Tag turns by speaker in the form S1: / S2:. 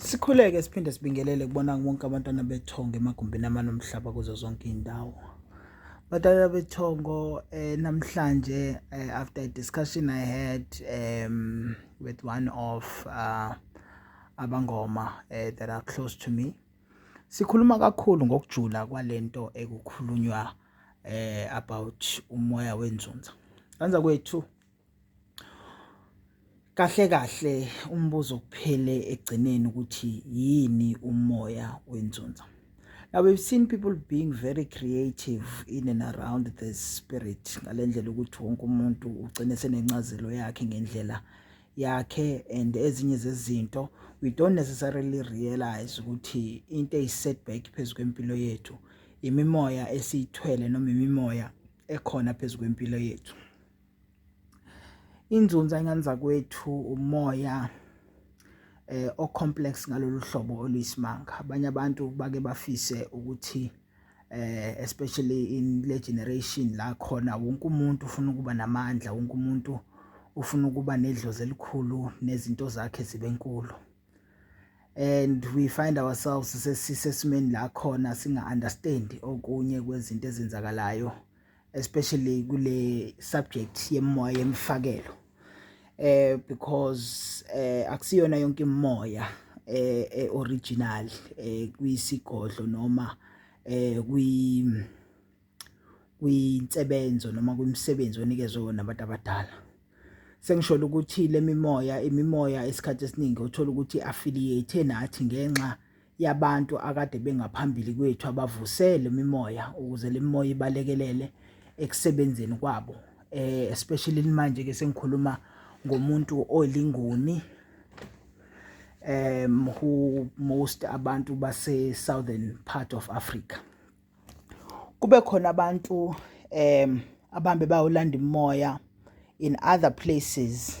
S1: Sikhuleke siphinde sibingelele kubona bonke abantwana bethongo emagumbini amane omhlaba kuzo zonke iy'ndawo. Abantwana bethongo eh, namhlanje eh, after a discussion I had um, with one of uh, abangoma eh, that are close to me sikhuluma kakhulu ngokujula kwalento ekukhulunywa eh, about umoya wenzunza. Kanza kwethu Kahle kahle umbuzo kuphele ekugcineni ukuthi yini umoya wenzunza. Now we've seen people being very creative in and around the spirit ngale ndlela ukuthi wonke umuntu ugcine senencazelo yakhe ngendlela yakhe and ezinye zezinto we don't necessarily realize ukuthi into eyi-setback phezu kwempilo yethu imimoya esiyithwele noma imimoya ekhona phezu kwempilo yethu. inzunza ingane zakwethu umoya eh ocomplex ngalolu hlobo oluyisimanga abanye abantu bake bafise ukuthi eh especially in le generation la khona wonke umuntu ufuna ukuba namandla wonke umuntu ufuna ukuba nedlozi elikhulu nezinto zakhe zibe nkulu and we find ourselves sesisesimeni la khona singa understand okunye kwezinto ezenzakalayo especially kule subject yemoya yemfakelo eh because eh akusiyona yonke imoya eh, eh original eh kuyisigodlo noma eh kwi kwinsebenzo noma kwimsebenzi onikezwe wona abantu abadala sengisholo ukuthi lemimoya imimoya esikhathi esiningi uthola ukuthi affiliate nathi ngenxa yabantu akade bengaphambili kwethu abavusele imimoya ukuze le mimoya ibalekelele ekusebenzeni kwabo eh especially manje ke sengikhuluma ngomuntu olingoni um who most abantu base southern part of Africa kube khona abantu um abambe bayolanda imoya in other places